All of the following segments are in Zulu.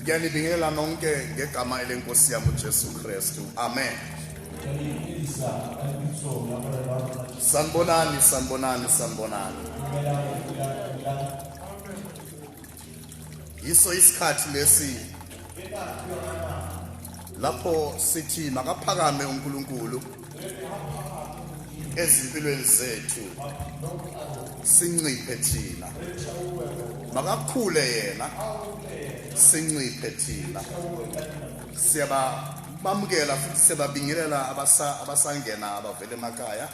ngiyanibingelela nonke ngegama elenkosi yami uJesu Kristu amen sanibonani sanibonani sanibonani yiso isikhathi lesi lapho sithi makaphakame uNkulunkulu ezimpilweni zethu sinciphe thina makakhule yena sinciphe thina siyabamukela futhi siyababingelela abasangena abavele emakhaya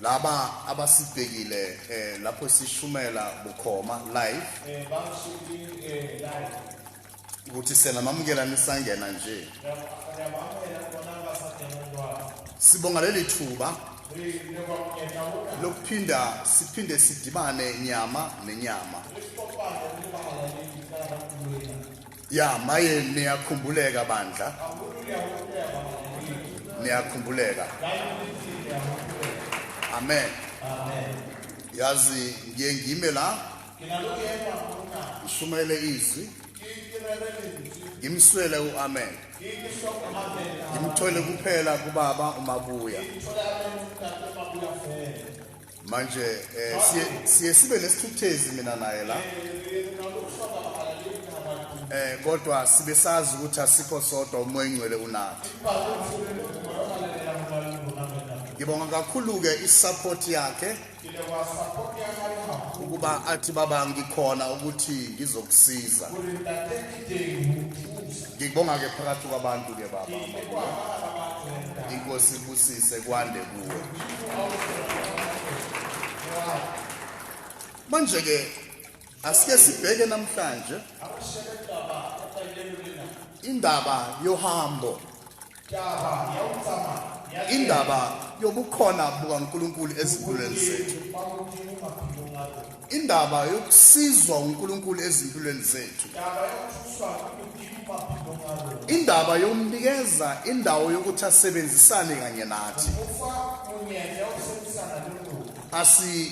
laba abasibhekile eh, lapho sishumela bukhoma live eh, eh, ukuthi sena mamukela nisangena nje sibonga leli thuba lokuphinda siphinde sidibane nyama nenyama ya maye niyakhumbuleka bandla niyakhumbuleka amen yazi ngiye ngime la ngishumayele izwi ngimswele u-amen ngimthole kuphela kubaba umabuya manje eh, siye siye sibe nesithukuthezi mina naye la eh kodwa sibe sazi ukuthi asikho sodwa umoya ingcwele unathi ngibonga kakhulu ke isupport yakhe ukuba athi baba ngikhona ukuthi ngizokusiza ngikubonga ke phakathi kwabantu ke baba inkosi ibusise kwande kuwe manje ke asike sibheke namhlanje indaba yohambo indaba yobukhona bukaNkulunkulu ezimpilweni zethu indaba yokusizwa uNkulunkulu ezimpilweni zethu indaba yomnikeza indawo yokuthi asebenzisane kanye nathi asi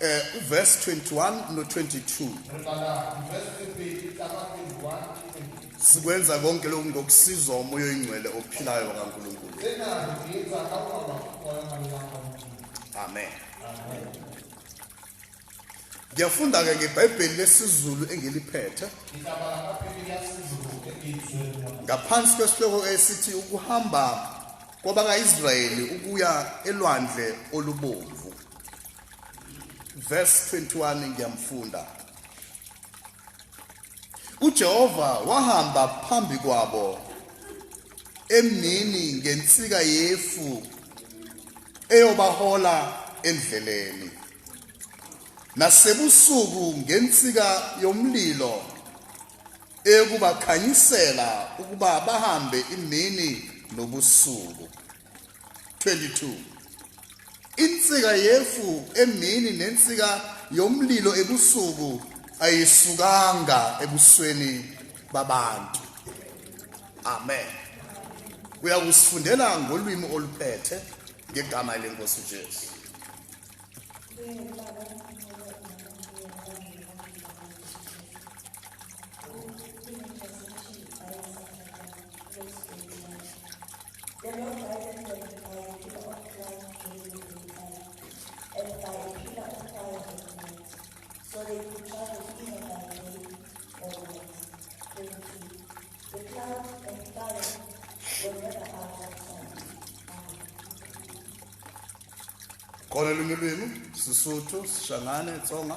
Eh uverse 21 no 22. Sikwenza konke lokhu ngokusizwa umoya oyingcwele ophilayo kaNkulunkulu. Amen. Ngiyafunda ke ngeBhayibheli lesiZulu engiliphethe. Ngaphansi kwesihloko esithi ukuhamba kwabakaIsrayeli ukuya elwandle olubomvu. verse 21 ngiyamfunda uJehova wahamba phambi kwabo emnini ngensika yefu eyobahola endleleni nasebusuku ngensika yomlilo eyokubakhanyisela ukuba bahambe imini nobusuku 22 Insika yefu emini nensika yomlilo ebusuku ayisukanga ebusweni babantu amen uyakusifundela ngolwimi oluphethe ngegama lenkosi Jesu Kona lulimi, Sesotho, Sishangane, Tsonga.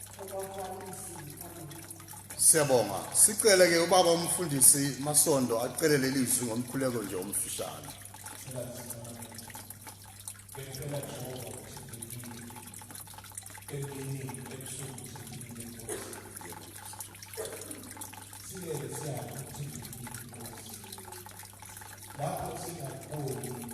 Siyabonga. Sicele ke ubaba umfundisi Masondo acele leli zwi ngomkhuleko nje omfishane. Lapho singakhona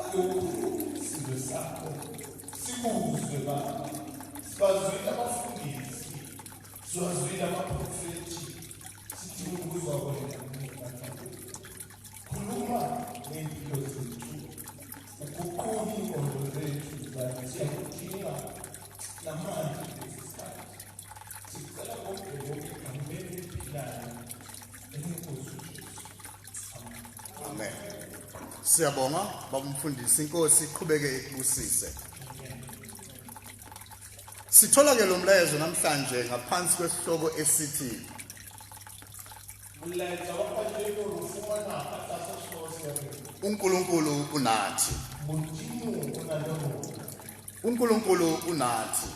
Ukhulu sizwe sakho sikuzwe baba sibazwile abafundisi siwazwile amaprofethi sidinga ukuzwa wena khuluma nempilo zethu uguqule ingqondo zethu zathi siyakudinga namanje kulesi sikhathi sicela konke konke egameni eliphilayo elinkosi Amen. Siyabonga babumfundisi inkosi iqhubeke ikubusise. Sithola ke lo mlayezo namhlanje ngaphansi kwesihloko esithi Mlayezo wabantu ufumana athatha uNkulunkulu unathi. uNkulunkulu unathi.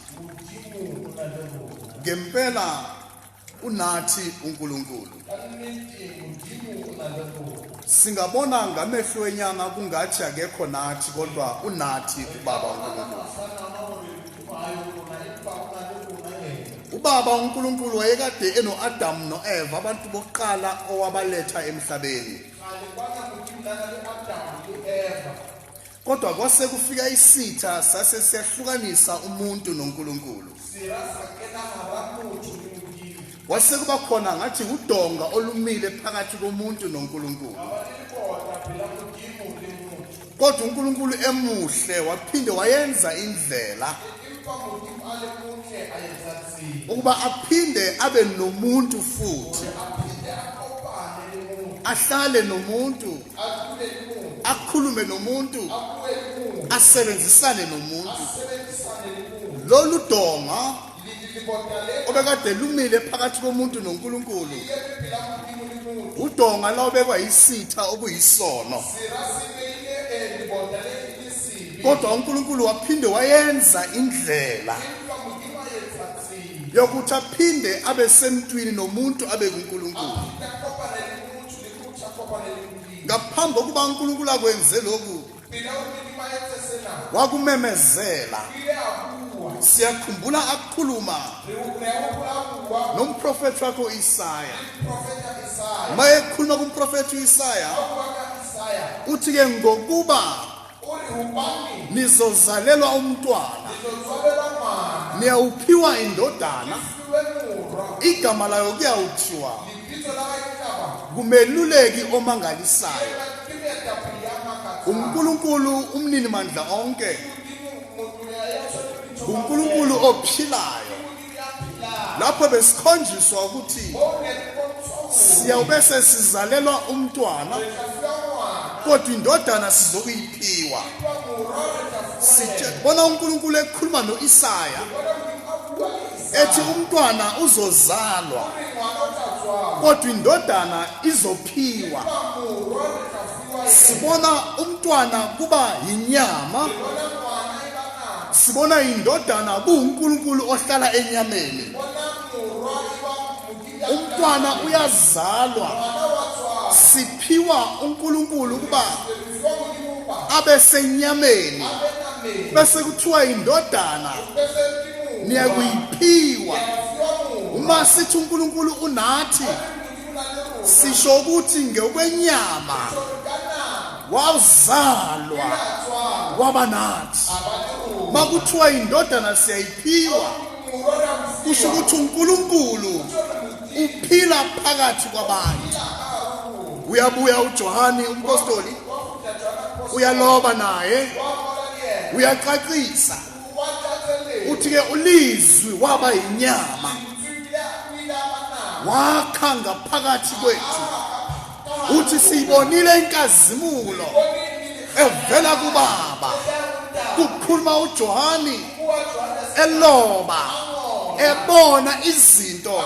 ngempela Unathi uNkulunkulu. Singabona ngamehlo enyama kungathi akekho nathi kodwa unathi uBaba uNkulunkulu. uBaba uNkulunkulu wayekade enoAdam noEva abantu bokuqala owabaletha emhlabeni Kodwa kwase kufika isitha sase siyahlukanisa umuntu noNkulunkulu. Wase kuba khona ngathi udonga olumile phakathi komuntu noNkulunkulu. Kodwa uNkulunkulu emuhle waphinde wayenza indlela ukuba aphinde abe nomuntu futhi ahlale nomuntu akhulume nomuntu asebenzisane nomuntu lolu donga obekade lumile phakathi komuntu noNkulunkulu udonga la obekwa yisitha okuyisono kodwa uNkulunkulu waphinde wayenza indlela yokuthi aphinde abe semntwini nomuntu abe kuNkulunkulu ngaphambi kokuba unkulunkulu akwenze lokhu wakumemezela siyakhumbula akhuluma nomprofethi wakho isaya mayekhuluma kumprofethi uisaya uthi-ke ngokuba nizozalelwa umntwana niyawuphiwa indodana igama layo kuyawuthiwa kumeluleki omangalisayo uNkulunkulu umnini mandla onke uNkulunkulu ophilayo lapho besikhonjiswa ukuthi siyawube sesizalelwa umntwana kodwa indodana sizokuyiphiwa sibona uNkulunkulu ekhuluma noIsaya ethi umntwana uzozalwa kodwa indodana izophiwa sibona umntwana kuba yinyama sibona indodana kuwuNkulunkulu ohlala enyameni umntwana uyazalwa siphiwa uNkulunkulu kuba abe senyameni bese kuthiwa indodana niyakuyiphiwa uma sithi uNkulunkulu unathi sisho ukuthi ngokwenyama wazalwa waba nathi makuthiwa indodana siyayiphiwa kusho ukuthi uNkulunkulu uphila phakathi kwabantu uyabuya uJohane umpostoli uyaloba naye uyacacisa uthi ke ulizwi waba yinyama wakha ngaphakathi kwethu uthi siyibonile inkazimulo evela kubaba kukhuluma uJohani eloba ebona izinto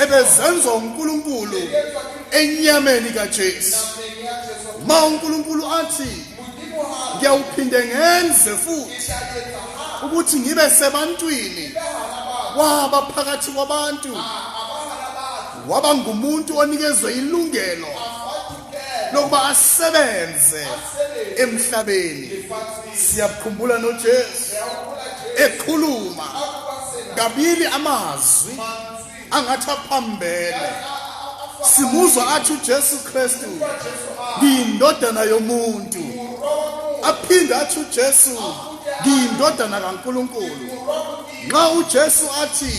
ebezenziwa uNkulunkulu enyameni kaJesu ma uNkulunkulu athi ngiyawuphinde ngenze futhi ukuthi ngibe sebantwini waba phakathi kwabantu waba ngumuntu onikezwe ilungelo lokuba asebenze emhlabeni siyakukhumbula noJesu ekhuluma kabili amazwi angathi aphambene simuzwa athi uJesu Kristu ngiyindodana yomuntu aphinde athi uJesu ngiyindodana kaNkuluNkulu nxa uJesu athi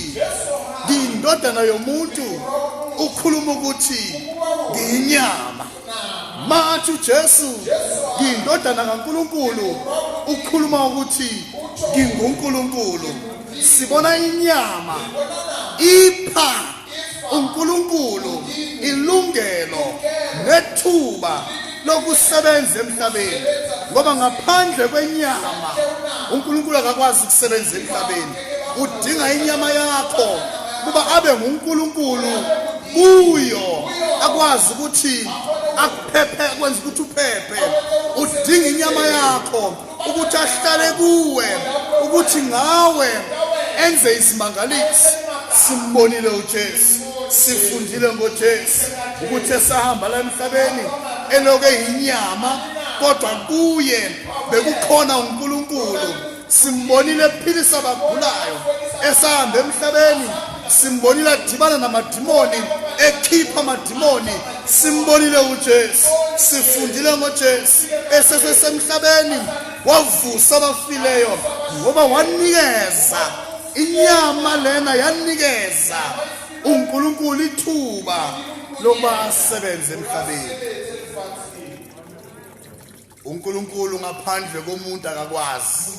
ngiyindodana yomuntu ukhuluma ukuthi ngiyinyama manje uJesu ngindodana kaNkuluNkulu ukhuluma ukuthi nginguNkuluNkulu sibona inyama ipha uNkuluNkulu ilungelo nethuba lokusebenza emhlabeni ngoba ngaphandle kwenyama uNkulunkulu akakwazi ukusebenza emhlabeni udinga inyama yakho kuba abe nguNkulunkulu kuyo akwazi ukuthi akuphephe kwenza ukuthi uphephe udinga inyama yakho ukuthi ahlale kuwe ukuthi ngawe enze isimangaliso simbonile uJesu sifundile ngoJesu ukuthi esahamba la emhlabeni eloke inyama kodwa kuye bekukhona uNkulunkulu simbonile ephilisa abagulayo esahamba emhlabeni simbonile adibana namadimoni ekhipha amadimoni simbonile uJesu sifundile ngoJesu esesesemhlabeni wavusa abafileyo ngoba wanikeza inyama lena yanikeza uNkulunkulu ithuba lokuba asebenze emhlabeni uNkulunkulu ngaphandle komuntu akakwazi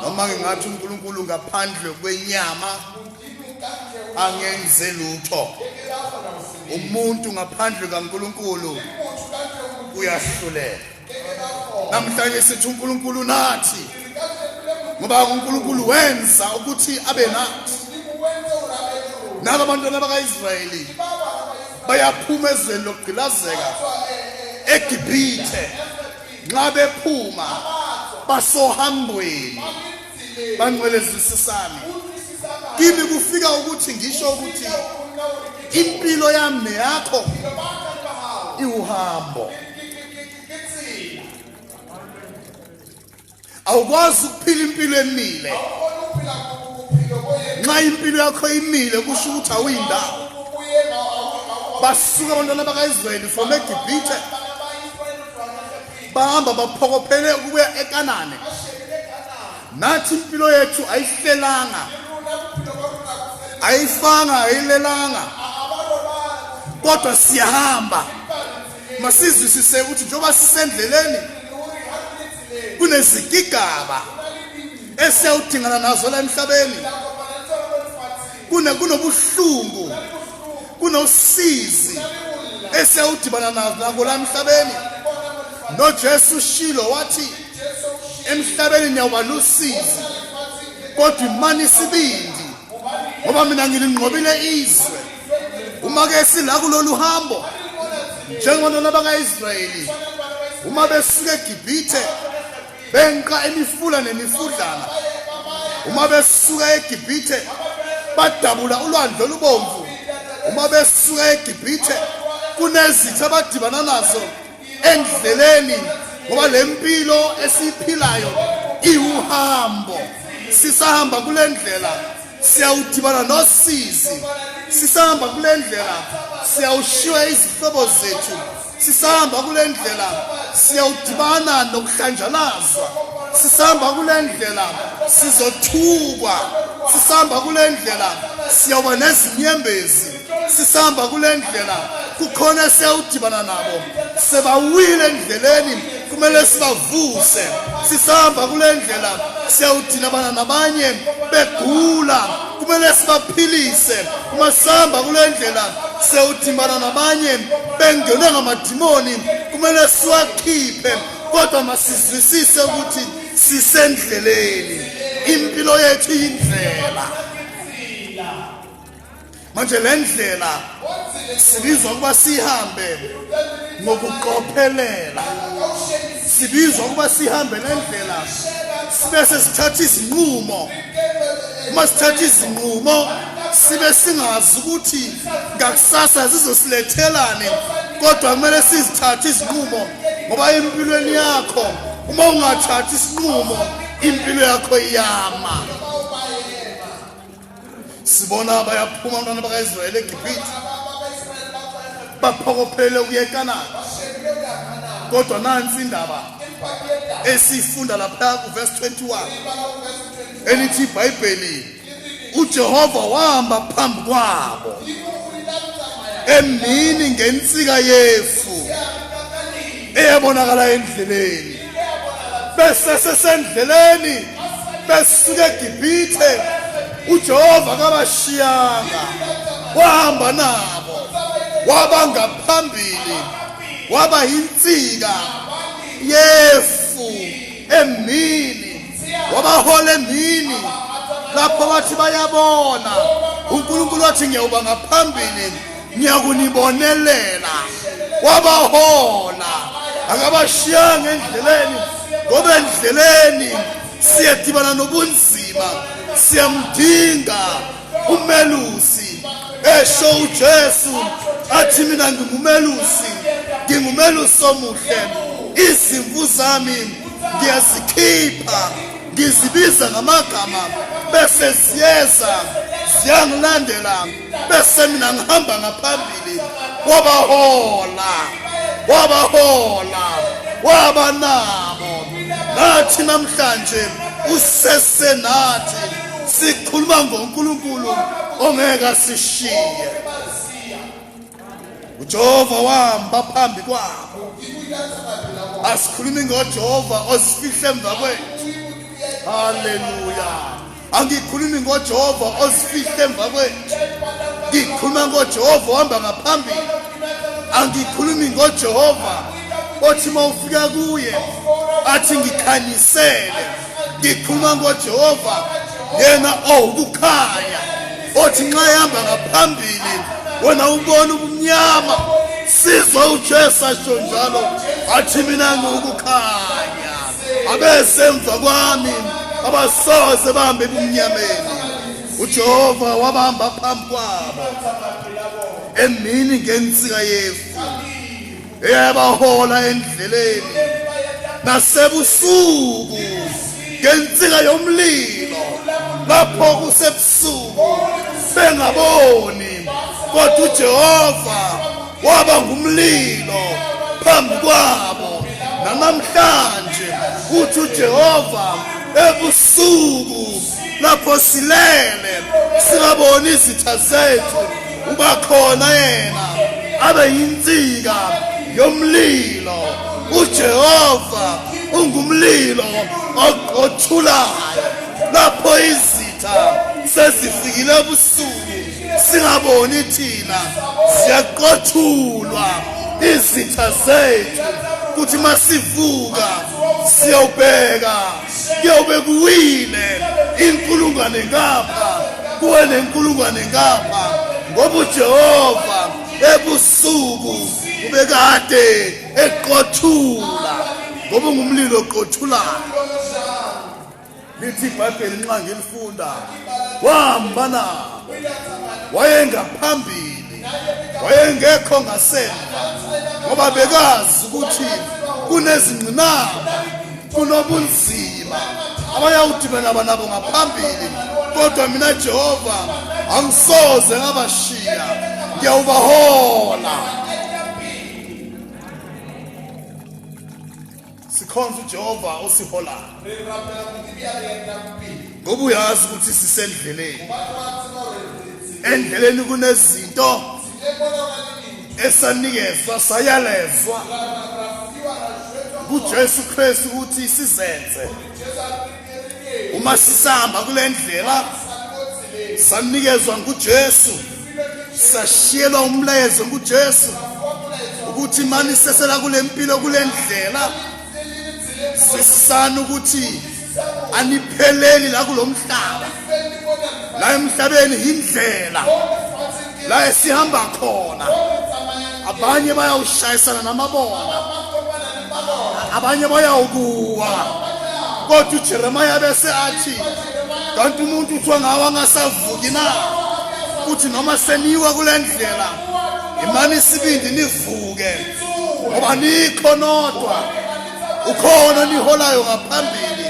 noma ngingathi uNkulunkulu ngaphandle kwenyama angenze lutho umuntu ngaphandle kaNkulunkulu uyahluleka namhlanje sithi uNkulunkulu nathi ngoba uNkulunkulu wenza ukuthi abe nathi nabo bantwana bakaIsrayeli bayaphuma ezweni lokugqilazeka eGibhithe nxa bephuma basohambweni bangcwelezisisami kimi kufika ukuthi ngisho ukuthi impilo yami neyakho iwuhambo awukwazi ukuphila impilo emile nxa impilo yakho imile kusho ukuthi awuyindawo basuka abantwana bakayisrayeli from egibhithe bahamba baphokophele ukubuya ekanane nathi impilo yethu ayihlelanga ayifanga ayilelanga kodwa siyahamba masizwisise ukuthi njengoba sisendleleni kunezigigaba esiyawudingana nazo la emhlabeni kunobuhlungu kunosizi esiyawudibana nako la emhlabeni nojesu ushilo wathi emhlabeni niyawuba nosizi kodwa imani isibindi ngoba mina ngilinqobile izwe uma ke sila kulolu hambo njengonona bakaIsrayeli uma besuka eGibhithe benqa imifula nemifudlana uma besuka eGibhithe badabula ulwandle olubomvu uma besuka eGibhithe kunezitha abadibana nazo endleleni ngoba lempilo esiphilayo iwuhambo sisahamba kulendlela siyawudibana nosizi sisahamba kule ndlela siyawushiywa izihlobo zethu sisahamba kule ndlela siyawudibana nokuhlanjalazwa sisahamba kule ndlela sizothukwa sisahamba kule ndlela siyawuba nezinyembezi sisihamba kule ndlela kukhona esiyawudibana nabo sebawile endleleni kumele sibavuse sisihamba kule ndlela siyawudinabana nabanye begula kumele sibaphilise uma sihamba kule ndlela sewudimana nabanye bengenwe ngamadimoni kumele siwakhiphe kodwa masizwisise ukuthi sisendleleni impilo yethu yindlela manje le ndlela sibizwa ukuba sihambe ngokuqophelela sibizwa ukuba sihambe le ndlela sibe sesithatha izinqumo uma sithatha izinqumo sibe singazi ukuthi ngakusasa zizosilethelani kodwa kumele sizithathe izinqumo ngoba empilweni yakho uma ungathathi isinqumo impilo yakho iyama sibona bayaphuma abantwana bakaIsrayeli eGibhithe baphokophele ukuyekanana kodwa nansi indaba esiyifunda lapha kuverse 21 elithi iBhayibheli uJehova wahamba phambi kwabo emini ngensika yefu eyabonakala endleleni besesesendleleni besuka egibhithe ujehova kabashiyanga wahamba nabo waba ngaphambili waba yinsika yefu emini wabahola emini lapho bathi bayabona unkulunkulu wathi ngiyawuba ngaphambili ngiyakunibonelela wabahola akabashiyanga endleleni ngoba endleleni siyadibana nobunzima siyamdinga umelusi esho uJesu athi mina ngingumelusi ngingumelusi omuhle izimvu zami ngiyazikhipha ngizibiza ngamagama bese ziyeza ziyangilandela bese mina ngihamba ngaphambili wabahola wabahola waba nabo nathi namhlanje usesenathi sikhuluma ngoNkulunkulu ongeke asishiye uJehova wahamba phambi kwabo asikhulumi ngoJehova osifihle emva kwethu haleluya angikhulumi ngojehova ozifihle emva kwethu ngikhuluma ngojehova ohamba ngaphambili angikhulumi ngojehova othi uma ufika kuye athi ngikhanyisele ngikhuluma ngojehova yena owukukhanya othi nxa ehamba ngaphambili wena ubona ubumnyama sizwa ujesu asho njalo athi mina ngiwukukhanya abesemva kwami abasoze bambe ebumnyameni ujehova wabamba phambi kwabo emini ngensika yefu eyabahola endleleni nasebusuku ngensika yomlilo lapho kusebusuku bengaboni kodwa ujehova waba ngumlilo phambi kwabo namamhlanje uthi uJehova ebusuku lapho silele singaboni izitha zethu uba khona yena abe yinsika yomlilo uJehova ungumlilo oqothulayo lapho izitha sezifikile singaboni thina siyaqothulwa izitha zethu kuthi masivuka siyobheka kuyobe kuwile inkulungwane ngapha kuwe nenkulungwane ngapha ngoba uJehova ebusuku ubekade eqothula ngoba ngumlilo oqothulayo lithi ibhayibheli nxa ngilifunda wahamba na wayengaphambili wayengekho ngasemva ngoba bekazi ukuthi kunezingqinamba kunobunzima abayawudibana banabo ngaphambili kodwa mina jehova angisoze ngabashiya ngiyawubahola sikhonza ujehova osiholayo ngoba uyazi ukuthi sisendleleni endleleni kunezinto esanikezwa sayalezwa kujesu kristu ukuthi sizenze uma sisahamba kule ndlela sanikezwa nguJesu sashiyelwa umlayezo nguJesu ukuthi mani sesela kule mpilo kule ndlela sisana ukuthi anipheleli la kulomhlaba la emhlabeni indlela la esihamba khona abanye bayawushayisana namabona abanye bayawukuwa kodwa ujeremiya bese athi kanti umuntu kuthiwa ngawo angasavuki na kuthi noma seniwa kule ndlela imani isibindi nivuke ngoba nikho nodwa ukhona niholayo ngaphambili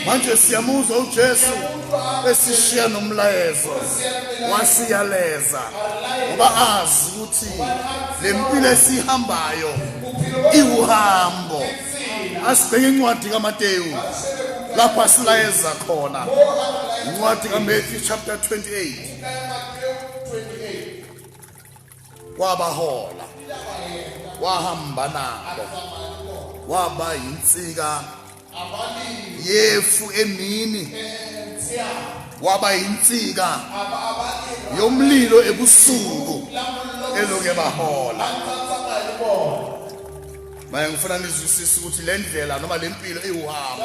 manje siyamuzwa ujesu esishiya nomlayezo wasiyaleza ngoba azi ukuthi le mpilo esihambayo iwuhambo asibheke incwadi kamateyu lapho asilayeza khona incwadi kamatthew chapter 28 wabahola wahamba nabo waba yinsika yefu emini waba yinsika yomlilo ebusuku eloke bahola manje ngifuna nizwisise ukuthi le ndlela noma le mpilo iwuhambo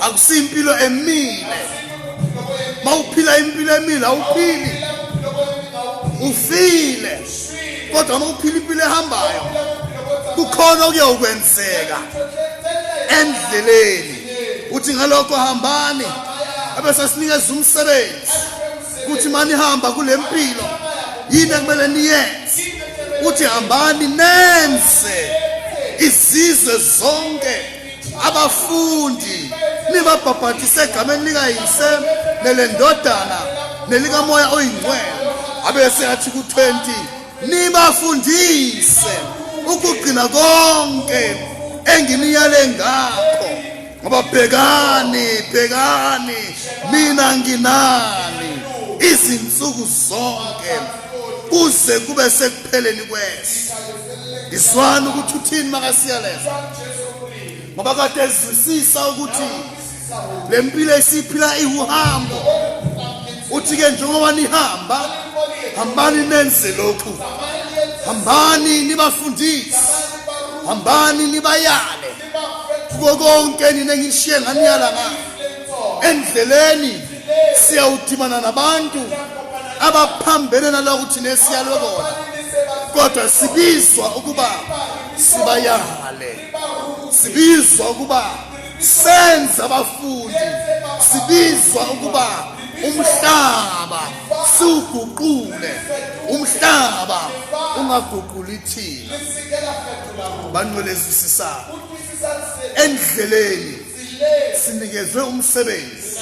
akusiyimpilo emile mawuphila impilo emile awuphili ufile kodwa mawuphila impilo ehambayo kukhona okuyokwenzeka endleleni uthi ngalokho hambani abese sinikeza umsebenzi kuthi manihamba kule mpilo yini ekumele niyenze uthi hambani nenze izizwe zonke abafundi nibabhabhathise egameni likayise nelendodana nelikamoya oyingcwele abese athi ku-20 nibafundise ukugcina konke enginiyale ngakho ngoba bhekani bhekani mina nginani izinsuku zonke kuze kube sekupheleni kweso iswana ukuthi uthini makasiyaleza ngoba kade ezwisisa ukuthi le mpilo esiphila iwuhambo uthi-ke njengoba nihamba hambani nenze lokhu hambani nibafundise hambani nibayale kuko konke nina ngishiye nganiyala ngani endleleni siyawudimana nabantu abaphambene nalokhu thina esiyalwe kona kodwa sibizwa ukuba sibayale sibizwa ukuba senze abafundi sibizwa ukuba umhlaba siwuguqule umhlaba ungaguquli thina banqolezisisana endleleni sinikezwe umsebenzi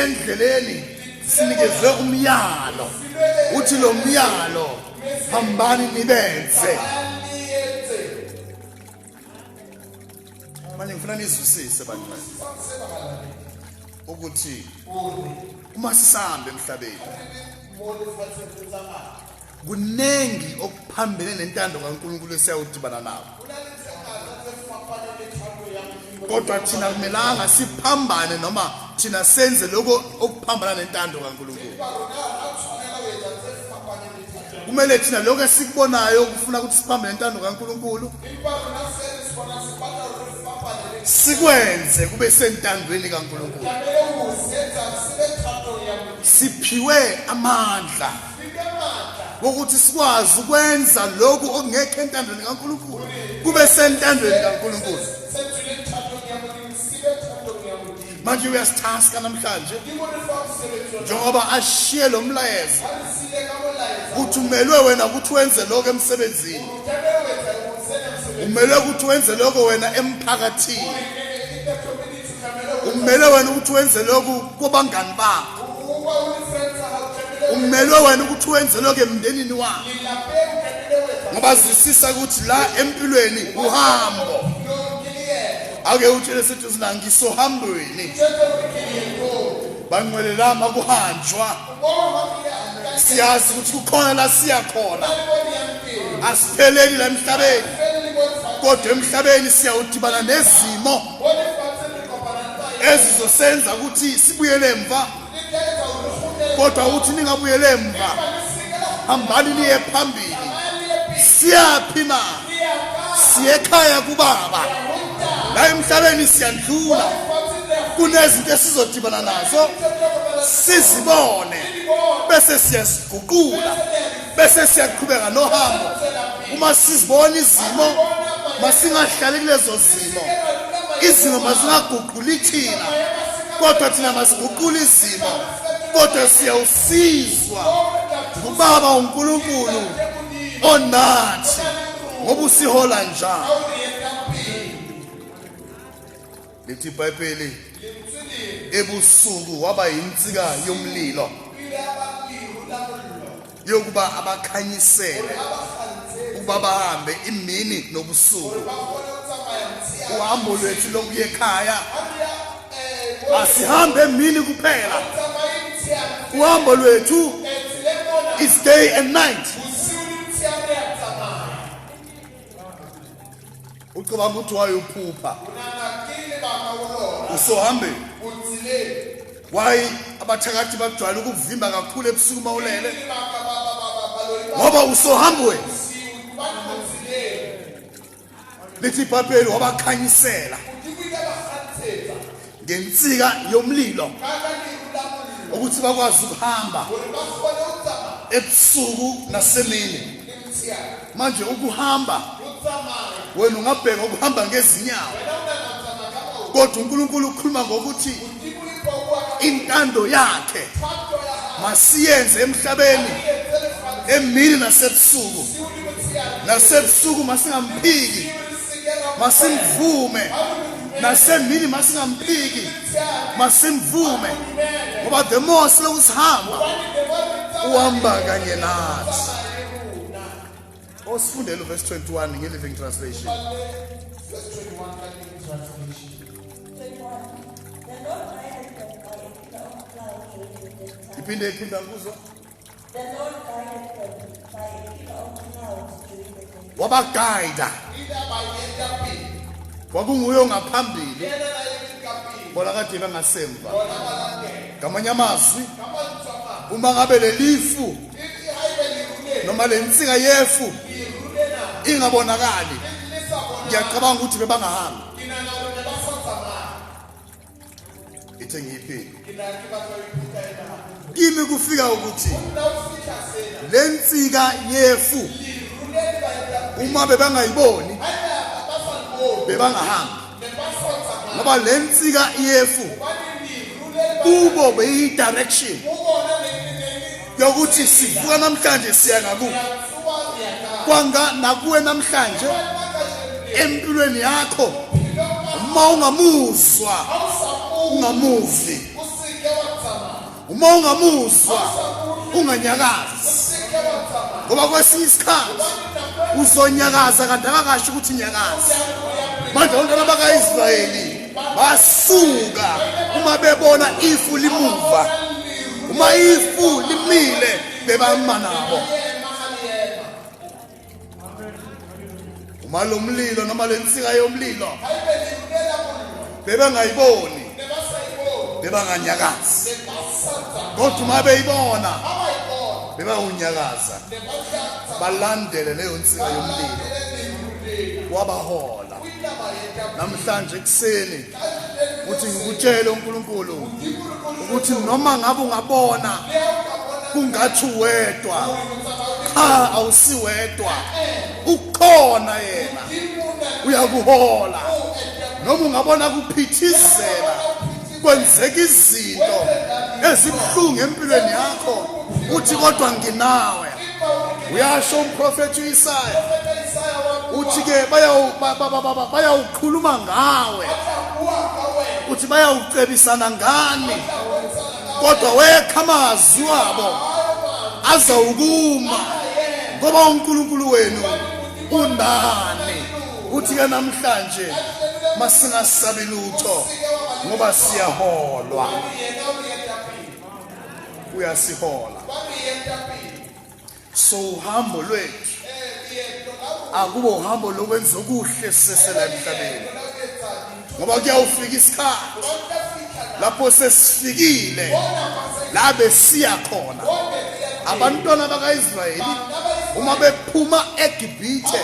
endleleni sinikezwe umyalo uthi lo myalo hambani nibenze manje ngifuna nizwisise bantwana ukuthi uma sisahambe emhlabeni kuningi okuphambene nentando kaNkulunkulu esiyawudibana nawo kodwa thina kumelanga siphambane noma thina senze lokho okuphambana nentando kaNkulunkulu kumele thina lokho esikubonayo ukufuna ukuthi siphambane nentando kaNkulunkulu sikwenze kube sentandweni kaNkulunkulu siphiwe amandla ukuthi sikwazi ukwenza lokhu okungekho entandweni kaNkulunkulu kube sentandweni kaNkulunkulu manje uyasithaska namhlanje njengoba ashiye lo mlayezo kuthumelwe wena ukuthi wenze lokho emsebenzini umelwe ukuthi wenze lokho wena emphakathini umelwe wena ukuthi wenze lokhu kobangani bakho umelwe wena ukuthi wenze lokhu emndenini wakho ngoba zwisisa ukuthi la empilweni uhambo ake utshele sithi uzina ngisohambweni banqwelelama kuhanjwa siyazi ukuthi kukhona la siya khona asipheleli la emhlabeni kodwa emhlabeni siyawudibana nezimo ezizosenza ukuthi sibuyele emva kodwa uthi ningabuyele emva hambani niye phambili siyaphi na siyekhaya kubaba la emhlabeni siyandlula kunezinto esizodibana nazo sizibone bese siyaziguqula bese siyaqhubeka nohambo uma sizibona izimo masingahlali kulezo zimo izimo masingaguquli thina kodwa thina masiguqula izimo kodwa siyawusizwa ngubaba unkulunkulu onathi ngoba usihola njalo lithi ibhayibheli ebusuku waba yinsika yomlilo yokuba abakhanyisele ukuba bahambe imini nobusuku uhambo lwethu lokuya ekhaya asihambe emini kuphela uhambo lwethu is day and night ucabanga ukuthi wayophupha usohambeni wayi abathakathi bajwayele ukuvimba kakhulu ebusuku uma ulele ngoba usohambweni lithi ibhayibheli wabakhanyisela ngensika yomlilo ukuthi bakwazi ukuhamba ebusuku nasemini manje ukuhamba wena ungabheka ukuhamba ngezinyawo kodwa uNkulunkulu ukhuluma ngokuthi intando yakhe masiyenze emhlabeni emini nasebusuku nasebusuku masingamphiki masimvume nasemini masingamphiki masimvume ngoba the more siloku sihamba uhamba kanye nathi osifundela uverse 21 nge-living translation iphinde iphinde ngikuzwa wabagayida kwakunguye ongaphambili bona kade bengasemva ngamanye amazwi uma ngabe lelifu noma le nsika yefu ingabonakali ngiyacabanga ukuthi bebangahambi ithe ngiyiphile kimi kufika ukuthi le nsika yefu uma bebangayiboni bebangahambi ngoba le nsika yefu kubo beyi-direction yokuthi sivuka namhlanje siya ngakuwe kwanga nakuwe namhlanje empilweni yakho uma ungamuzwa ungamuvi uma ungamuzwa unganyakazi ngoba kwesinye isikhathi uzonyakaza kanti akakasho ukuthi nyakazi manje ontana bakaIsrayeli basuka uma bebona ifu limuva uma ifu limile bebama nabo uma lo mlilo noma le nsika yomlilo bebengayiboni bebanganyakazi kodwa uma beyibona bebawunyakaza balandele leyo nsika yomlilo wabahola namhlanje ekuseni ukuthi ngikutshele uNkulunkulu ukuthi noma ngabe ungabona kungathi uwedwa cha awusiwedwa ukhona yena uyakuhola noma ungabona kuphithizela kwenzeka izinto ezibuhlungu empilweni yakho uthi kodwa nginawe uyasho umprofethi uIsaya uthi ke bayawukhuluma ngawe uthi bayawucebisana ngani kodwa wekha amazwi wabo azawukuma ngoba uNkulunkulu wenu unani Kuthi-ke namhlanje masingasabi lutho ngoba siyaholwa. Uyasihola. So uhambo lwethu akubo uhambo lokwenza okuhle sisesela emhlabeni. ngoba kuyawufika isikhathi lapho sesifikile la besiya khona abantwana bakaIsrayeli uma bephuma eGibhithe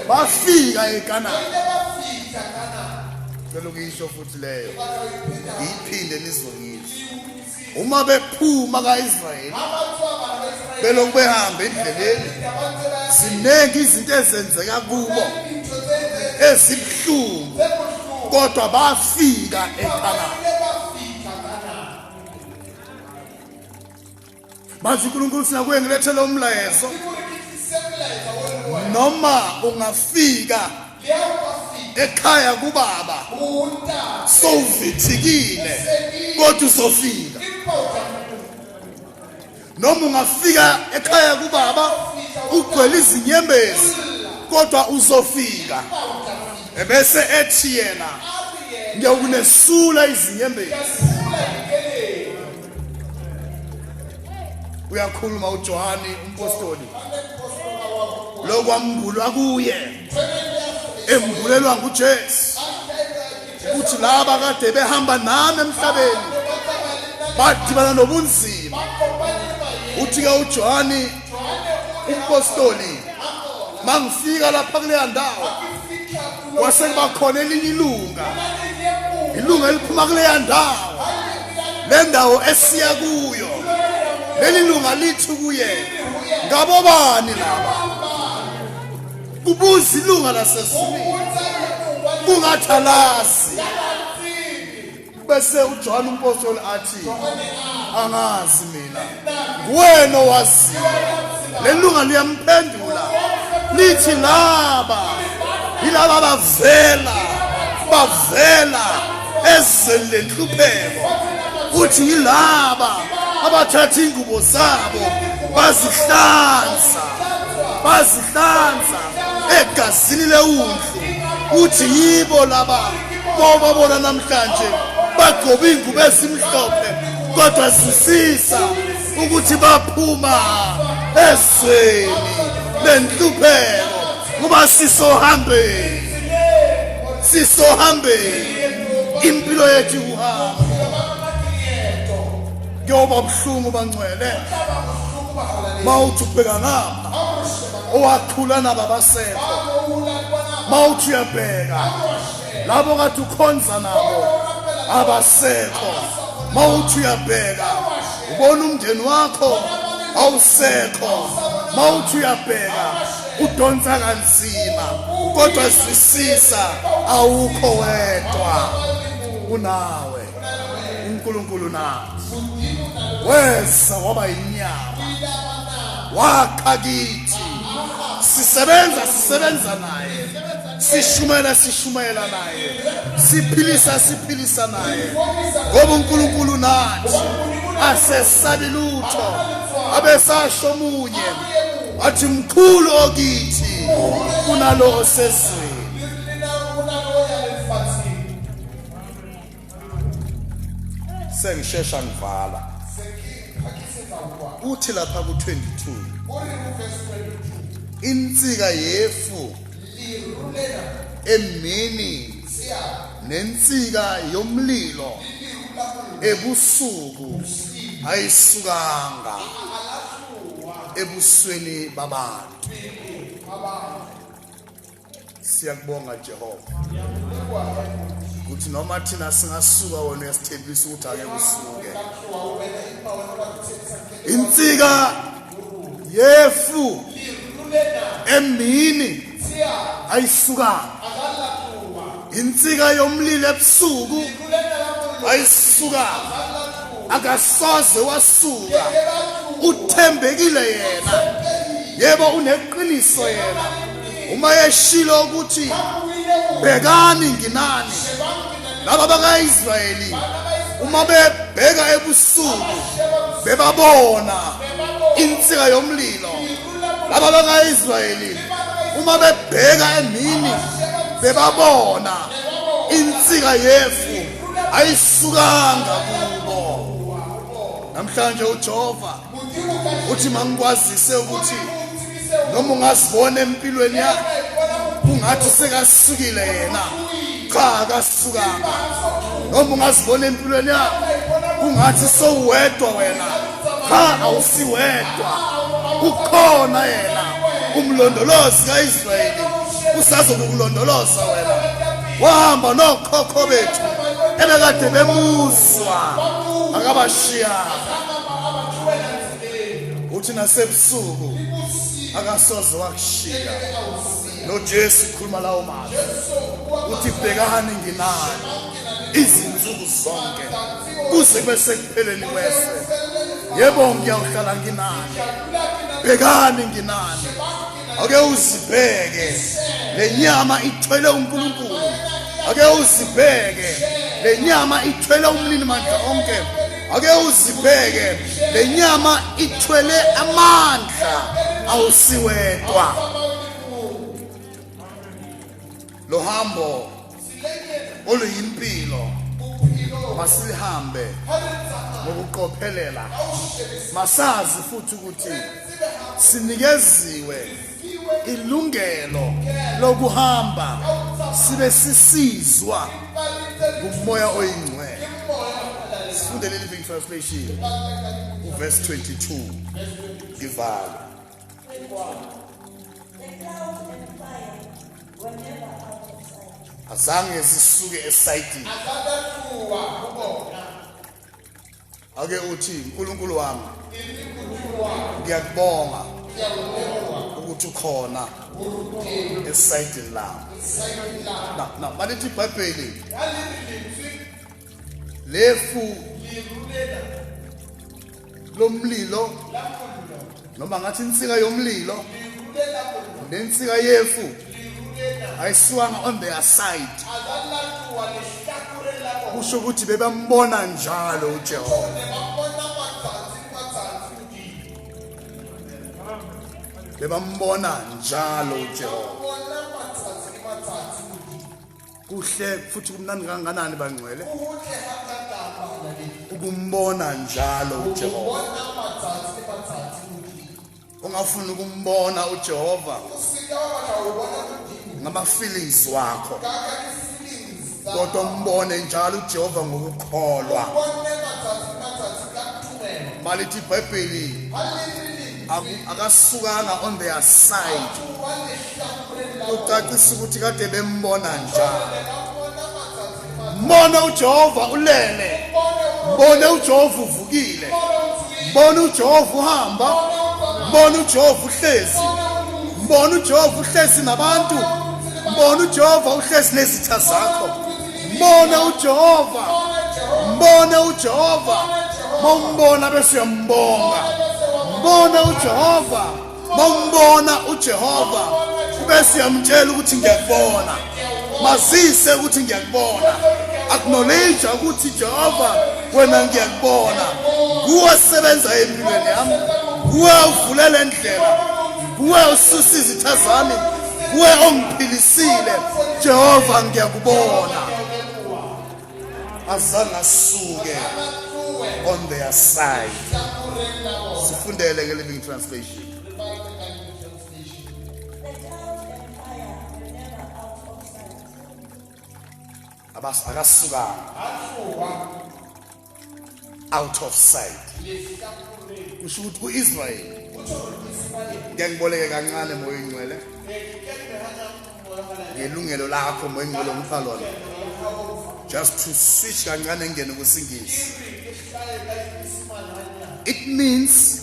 bafika eKanani cela ukuyisho futhi leyo ngiyiphinde nizongizwa uma bephuma kaIsrayeli belokhu behamba endleleni ziningi izinto ezenzeka kubo ezibuhlungu kodwa bafika eKhanani Bathi uNkulunkulu singakuye ngilethe lo mlayezo noma ungafika ekhaya kubaba sowuvithikile kodwa uzofika noma ungafika ekhaya kubaba ugcwele izinyembezi kodwa uzofika ebese ethi yena ngiyokunesula izinyembezi uyakhuluma uJohane umpostoli lokwambulwa kuye embulelwa nguJesu ukuthi laba kade behamba nami emhlabeni badibana nobunzima uthi ke uJohane umpostoli mangifika lapha kuleya ndawo kwase kuba khona elinye ilunga ilunga eliphuma kuleya ndawo le ndawo esiya kuyo leli lunga lithi kuye ngabobani laba kubuza ilunga lasezulwini kungathalazi bese uJohane umpostoli athi angazi mina nguwena owaziyo lelunga liyamphendula lithi laba yilaba bavela bavela ezweni lenhlupheko futhi yilaba abathatha ingubo zabo bazihlanza bazihlanza egazini lewundlu uthi yibo laba ngoba bona namhlanje bagcoba iy'ngubo ezimhlophe kodwa zisisa ukuthi baphuma ezweni lenhlupheko ngoba sisohambeni sisohambeni impilo yethu ikuhamba kuyoba buhlungu bangcwele mawuthi ubheka ngapha owakhula nabo abasekho mawuthi uyabheka labo kade ukhonza nabo abasekho mawuthi uyabheka ubona umndeni wakho awusekho mawuthi uyabheka udonsa kanzima kodwa zwisisa awukho wedwa unawe uNkulunkulu nathi weza waba inyama wakha kithi sisebenza sisebenza naye sishumela sishumayela naye siphilisa siphilisa naye ngoba uNkulunkulu nathi asesabi lutho abesasho omunye athi mkhulu okithi kunalo osezweni sengishesha ngivala kuthi lapha ku-22 insika yefu emini nensika yomlilo ebusuku ayisukanga ebusweni babantu siyakubonga Jehova ukuthi noma thina singasuka wona uyasithembisa ukuthi ake kusuke insika yefu emini ayisuka Insika yomlilo ebusuku ayisuka akasoze wasuka uthembekile yena yebo uneqiniso yena uma yeshilo ukuthi bhekani nginani laba bakaIsrayeli uma bebheka ebusuku bebabona insika yomlilo laba bakaIsrayeli uma bebheka emini bebabona insika yefu ayisukanga kubo namhlanje uJehova uthi mangikwazise ukuthi noma ungazibona empilweni yakhe kungathi sekasukile yena cha akasukanga noma ungazibona empilweni yakhe kungathi sowedwa wena cha awusiwedwa ukhona yena umlondolozi kaIsrayeli usazokulondoloza wena wahamba nokhokho bethu ebekade bemuzwa akabashiyanga uthi nasebusuku akasoze wakushiya noJesu ukhuluma lawo mazwi uthi bhekani nginani izinsuku zonke kuze kube sekupheleni kwese yebo ngiyawuhlala nginani bhekani nginani ake uzibheke le nyama ithwele unkulunkulu ake uzibheke le nyama ithwele umnini mandla onke ake uzibheke le nyama ithwele amandla awusiwedwa lo hambo oluyimpilo masilihambe ngokuqophelela masazi futhi ukuthi sinikeziwe ilungelo lokuhamba sibe sisizwa ngumoya oyingcwele sifunde leli living translation uverse 22 ngivalo azange zisuke esayidini ake uthi uNkulunkulu wami ngiyakubonga ukuthi ukhona esayidini lami na na malithi ibhayibheli lefu lirulela lomlilo noma ngathi insika yomlilo nensika yefu ayisiwanga on their side kusho ukuthi bebambona njalo uJehova bebambona njalo uJehova kuhle futhi kumnandi kanganani bangcwele ukumbona njalo uJehova ungafuni ukumbona uJehova ngama feelings wakho kodwa umbone njalo uJehova ngokukholwa malithi ibhayibheli akasukanga on their side ucacisa ukuthi kade bembona njalo mbone ujehova ulele mbone ujehova uvukile mbone ujehova uhamba mbone ujehova uhlezi mbone ujehova uhlezi nabantu mbone ujehova uhlezi nezitha zakho mbone uJehova mbone uJehova mombona bese uyambonga mbone uJehova mombona uJehova bese uyamtshela ukuthi ngiyakubona mazise ukuthi ngiyakubona acknowledge ukuthi Jehova wena ngiyakubona kuwe sebenza empilweni yami kuwe uvulela indlela kuwe ususa izitha zami kuwe ongiphilisa Sile Jehova ngiyakubona azange asuke on their side sifundele ke living translation abas akasukanga out of sight kusho ukuthi ku-israyeli ngiyangiboleke kancane moya ingcwele ngelungelo lakho moya ingcwele ongipha lona just to switch kancane engene kusingisi it means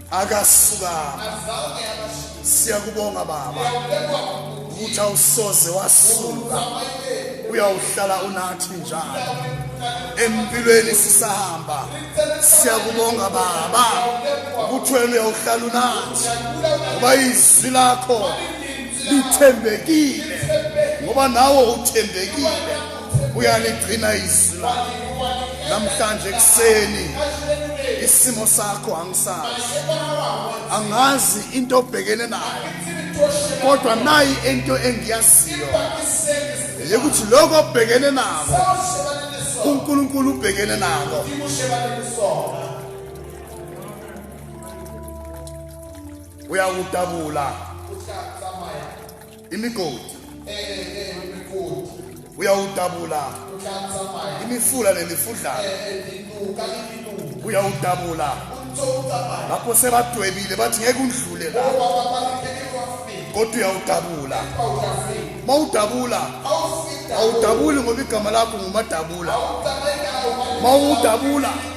akasukama siyakubonga baba ukuthi awusoze wasuka uyawuhlala unathi njalo empilweni sisahamba siyakubonga baba ukuthi wena uyawuhlala unathi ngoba izwi lakho lithembekile ngoba nawe uthembekile uyaligcina izwi lakho namhlanje ekuseni isimo sakho angisazi angazi into obhekene nayo kodwa nayi into engiyaziyo ukuthi lokho obhekene nako uNkulunkulu ubhekene nako uyakudabula imigodi uyawudabula imifula nemifudlana uyawudabula lapho sebadwebile bathi ngeke undlule la kodwa uyawudabula uma udabula awudabuli ngoba igama lakho ngumadabula uma udabula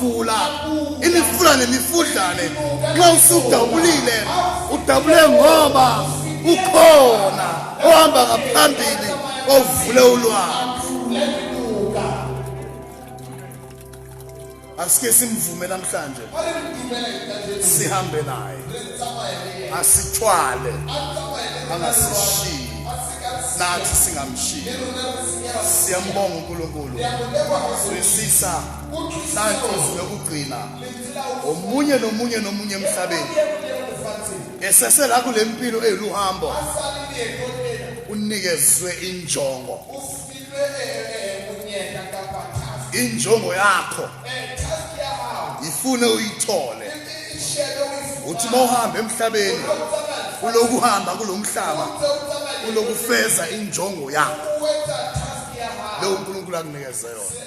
fula imifula nemifudlane nxa usudabulile udabule ngoba ukhona ohamba ngaphambili ovule ulwandle asike simvume namhlanje sihambe naye asithwale angasishiyi nathi singamshiyi siyambonga uNkulunkulu sisisa Santos nokugcina omunye nomunye nomunye emhlabeni esese la kule mpilo eyiluhambo unikezwe injongo injongo yakho ifune uyithole uthi uma uhamba emhlabeni ulokuhamba kulo mhlaba ulokufeza injongo yakho leyo unkulunkulu akunikeze yona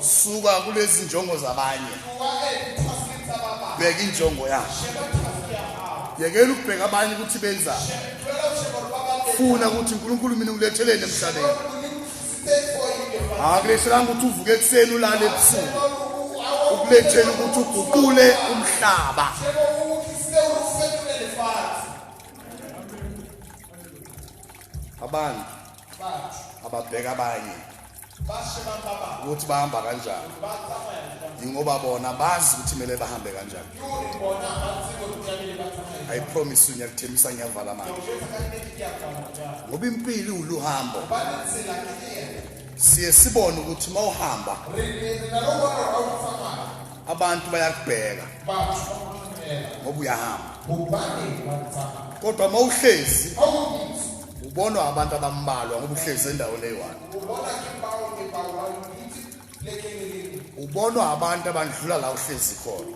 suka kulezi njongo zabanye bheka injongo yakho yekela ukubheka abanye ukuthi benzani funa ukuthi unkulunkulu mina ngiletheleni emhlabeni akulehlelanga ukuthi uvuke ekuseni ulale ebusuku ukulethela ukuthi uguqule umhlaba abantu ababheka abanye ukuthi bahamba kanjani yingoba bona bazi ukuthi kumele bahambe kanjani i promise you ngiyakuthembisa ngiyavala manje ngoba impilo iwuluhambo siye sibone ukuthi uma uhamba abantu bayakubheka ngoba uyahamba kodwa uma uhlezi ubonwa abantu abambalwa ngoba uhlezi endaweni eyi-one ubonwa abantu abandlula la uhlezi khona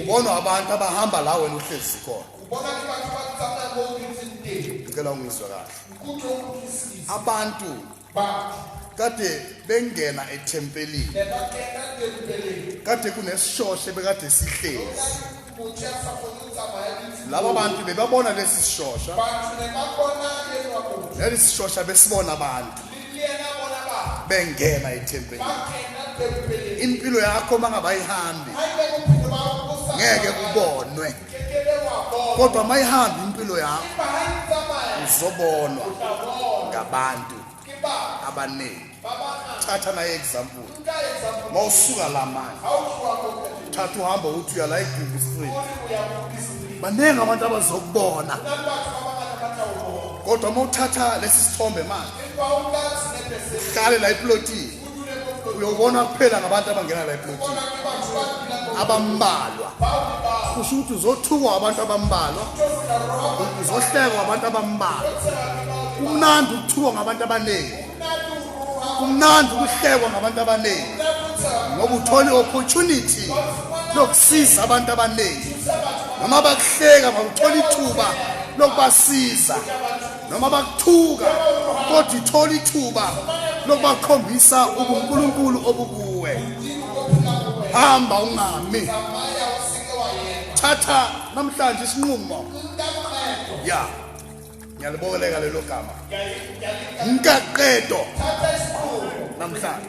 ubonwa abantu abahamba la wena uhlezi khona ngicela ungizwe kahle abantu kade bengena ethempelini kade kunesishoshe bekade sihlezi laba bantu bebabona lesi sishosha leli sishosha besibona abantu bengena ethempelini impilo yakho mangabayihambi ngeke kubonwe kodwa uma ihamba impilo yakho uzobonwa ngabantu abaningi thatha naye example uma usuka la manje thatha uhamba ukuthi uya la egugu street baningi abantu abazokubona kodwa uma uthatha lesi sithombe manje uhlale la eplotini uyobona kuphela ngabantu abangena la eplotini abambalwa kusho ukuthi uzothukwa abantu abambalwa uzohlekwa abantu abambalwa kumnandi ukuthukwa ngabantu abaningi kumnandi ukuhlekwa ngabantu abaningi ngoba uthole i-opportunity lokusiza abantu abaningi noma bakuhleka mawuthola ithuba lokubasiza noma bakuthuka kodwa ithola ithuba lokubakhombisa ubunkulunkulu obukuwe hamba ungami thatha namhlanje isinqumo ya ngiyalibokeleka lelo gama mkaqedo namhlanje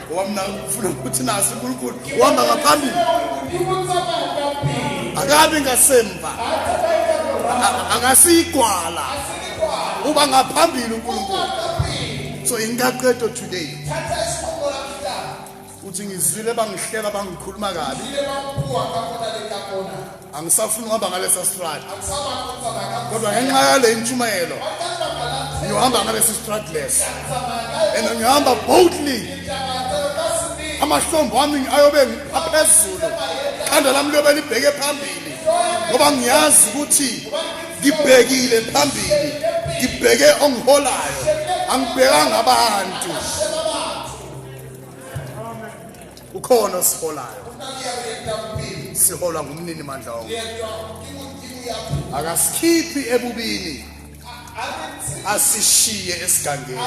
ngoba mina ngifuna ukuthi nazi unkulunkulu uhamba ngaphambili akabi ngasemva angasiyigwala uba ngaphambili unkulunkulu so ingaqedo today uthi ngizwile bangihlela bangikhuluma kabi angisafuni uhamba ngalesa strat kodwa ngenxa yale intshumayelo ngiyohamba ngalesi strat lesi and ngihamba boldly amahlombo ami ayobe aphezulu ikhanda lami liyobe libheke phambili ngoba ngiyazi ukuthi ngibhekile phambili ngibheke ongiholayo angibhekanga abantu kukhona osiholayo siholwa ngumnini mandla wonke akasikhiphi ebubini asishiye esigangeni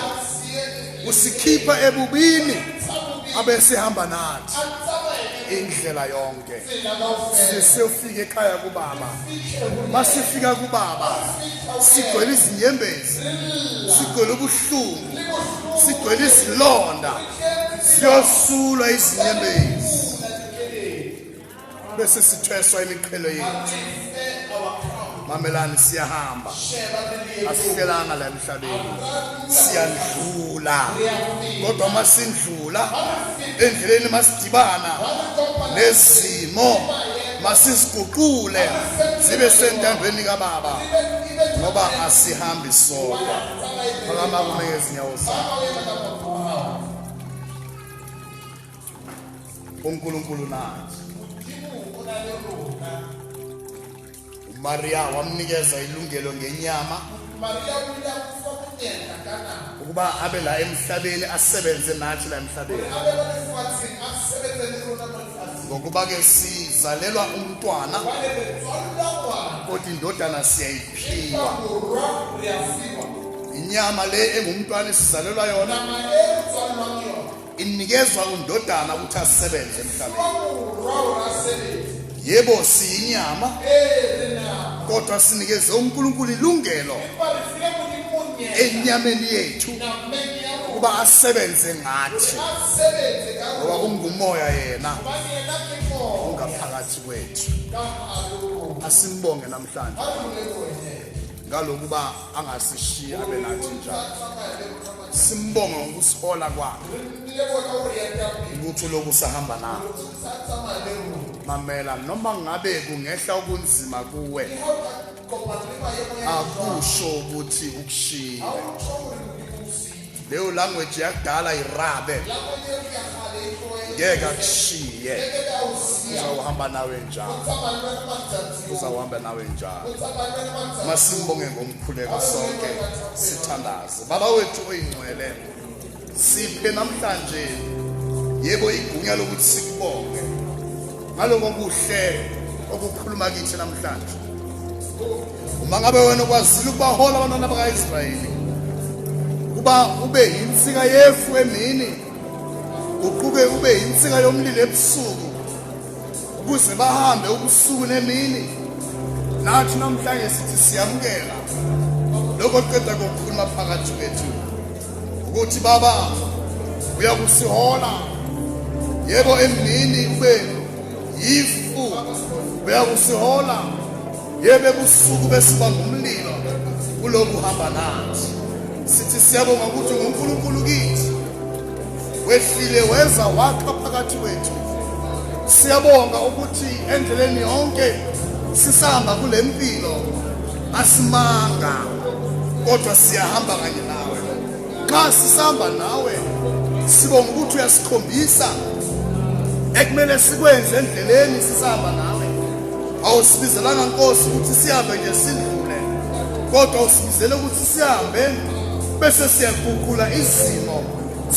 usikhipha ebubini abesihamba nathi indlela yonke sesiyofika ekhaya kubaba masifika kubaba sigcwele izinyembezi sigcwele ubuhlungu sigcwele izilonda siyosulwa izinyembezi bese sithweswa imiqhelo yethu mamelani siyahamba asihlelanga la emhlabeni siyandlula kodwa uma sindlula endleleni masidibana nezimo masiziguqule zibe sentandweni kababa ngoba asihambi sodwa phakama kume ngezinyawo zakho uNkulunkulu nathi uMaria wamnikeza ilungelo ngenyama ukuba abe la emhlabeni asebenze nathi la emhlabeni ngokuba ke sizalelwa umntwana kodwa indodana siyayiphiwa inyama le engumntwana esizalelwa yona inikezwa undodana ukuthi asebenze emhlabeni yebo siyinyama kodwa sinikeze uNkulunkulu ilungelo enyameni yethu ukuba asebenze ngathi ngoba ungumoya yena ungaphakathi kwethu asimbonge namhlanje ngalokuba angasishiyi abe nathi njalo simbonga ngokusihola kwakhe ukuthi lokhu sahamba nawo mamela noma ngabe kungehla okunzima kuwe akusho ukuthi ukushiyile leyo language yakudala irabe ngeke akushiye uzawuhamba nawe njalo uzawuhamba nawe njalo masimbonge ngomkhuleko sonke sithandaze baba wethu oyingcwele siphe namhlanje yebo igunya lokuthi sikubonge ngaloko kuhle okukhuluma kithi namhlanje uma ngabe wena ukwazile ukubahola abantwana bakaIsrayeli kuba ube yinsika yefu emini uquke ube yinsika yomlilo ebusuku ukuze bahambe ubusuku nemini nathi namhlanje sithi siyamukela lokho qeda kokukhuluma phakathi kwethu ukuthi baba uyakusihola yebo emini ube yifu uyakusihola Yebo ebusuku besuba ngumlilo kuloku hamba nathi. Sithi siyabonga ukuthi nguNkulunkulu kithi. Wehlile weza wakha phakathi kwethu. Siyabonga ukuthi endleleni yonke sisahamba kule mpilo asimanga kodwa siyahamba kanye nxa sisihamba nawe sibonga ukuthi uyasikhombisa ekumele sikwenze endleleni sisihamba nawe awusibizelanga nkosi ukuthi sihambe nje sidlule kodwa usibizele ukuthi sihambe bese siyaguqula izimo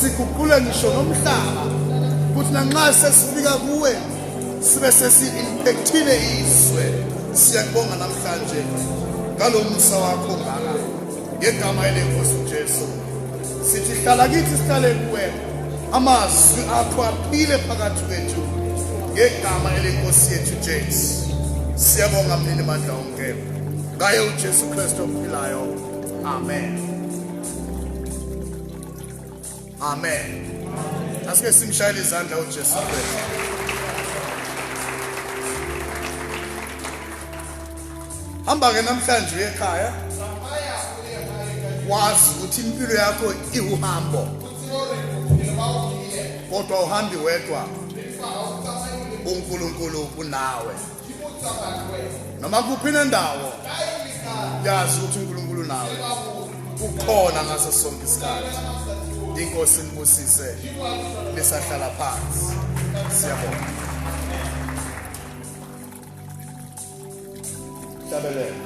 siguqule ngisho nomhlaba ukuthi nanxa sesifika kuwe sibe sesi-impekthile izwe siyakubonga namhlanje ngalo musa wakho ngaka Ngegama elenkosi uJesu sithi hlala kithi sihlale kuwena amazwi akho aphile phakathi kwethu ngegama elenkosi yethu Jesu siyabonga mnini mandla onke ngaye uJesu Kristu ophilayo amen Amen. Asike simshayele izandla uJesu Kristu. Hamba ke namhlanje uye ekhaya. Wazi ukuthi impilo yakho iwuhambo. Kodwa uhambi wedwa. uNkulunkulu unawe noma kuphi nendawo yazi ukuthi uNkulunkulu nawe ukhona ngaso sonke isikhathi inkosi nibusise lisahlala phansi siyabonga tabelele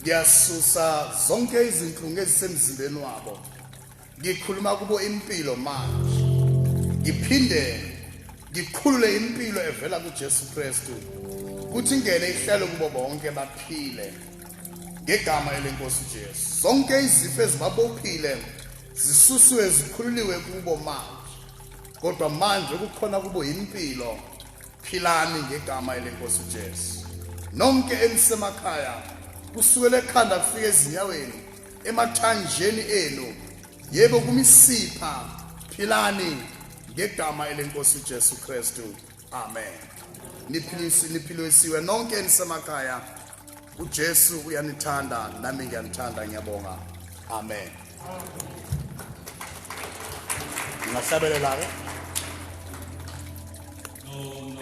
ngiyasusa zonke izinhlungu ezisemzimbeni wabo ngikhuluma kubo impilo manje ngiphinde ngiqhulule impilo evela kuJesu Kristu kuthi ingene ihlelo kubo bonke baphile ngegama elenkosi uJesu zonke izifo ezibabophile zisuswe zikhululiwe kubo manje kodwa manje kukhona kubo impilo philani ngegama elenkosi uJesu nonke enisemakhaya kusukela ekhanda kufika ezinyaweni emathanjeni enu yebo kumisipha philani ngegama elenkosi uJesu Kristu amen niphilisiwe nonke enisemakhaya uJesu uyanithanda nami ngiyanithanda ngiyabonga amen ngingahlabelela-ke